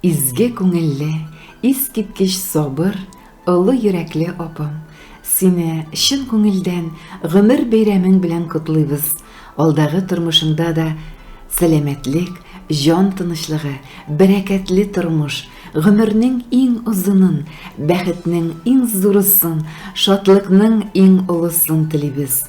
Изге күңелле, искиткеч сабыр, олы йөрәкле апам! Сине чын күңелдән гомер бәйрәмең белән котлыйбыз! Алдагы тормышыңда да сәламәтлек, җан тынычлыгы, бәрәкәтле тормыш, гомернең иң озынын, бәхетнең иң зурысын, шатлыкның иң олысын телибез!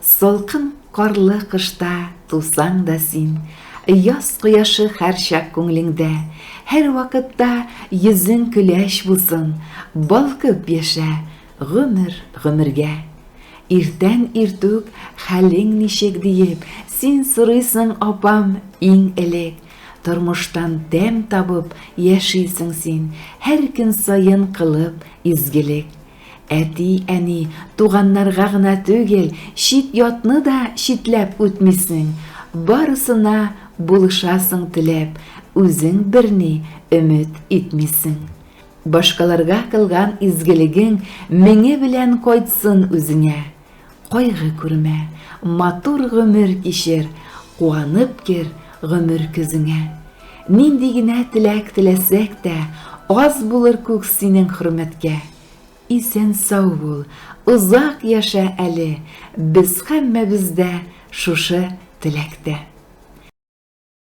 Салкын карлы кышта тусаң да син, Яз кояшы һәрчак күңлеңдә, Һәрвакытта йөзең көләч булсын, Балкып яшә гомер гомергә. Иртән иртүк хәлең ничек диеп, Син сорыйсың, апам, иң элек. Тормыштан тәм табып яшисең син, Һәр көн саен кылып изгелек. Әти-әни, туганнарга гына түгел, чит-ятны да читләп үтмисең, барысына булышасың теләп, үзең берни өмет итмисең. Башкаларга кылган изгелегең меңе белән кайтсын үзеңә. Кайгы күрмә, матур гомер кичер, Куанып кер гомер көзеңә. Нинди генә теләк теләсәк тә, Аз булыр күк синең хөрмәткә. Исән-сау бул, озак яшә әле, Без һәммәбез дә шушы теләктә.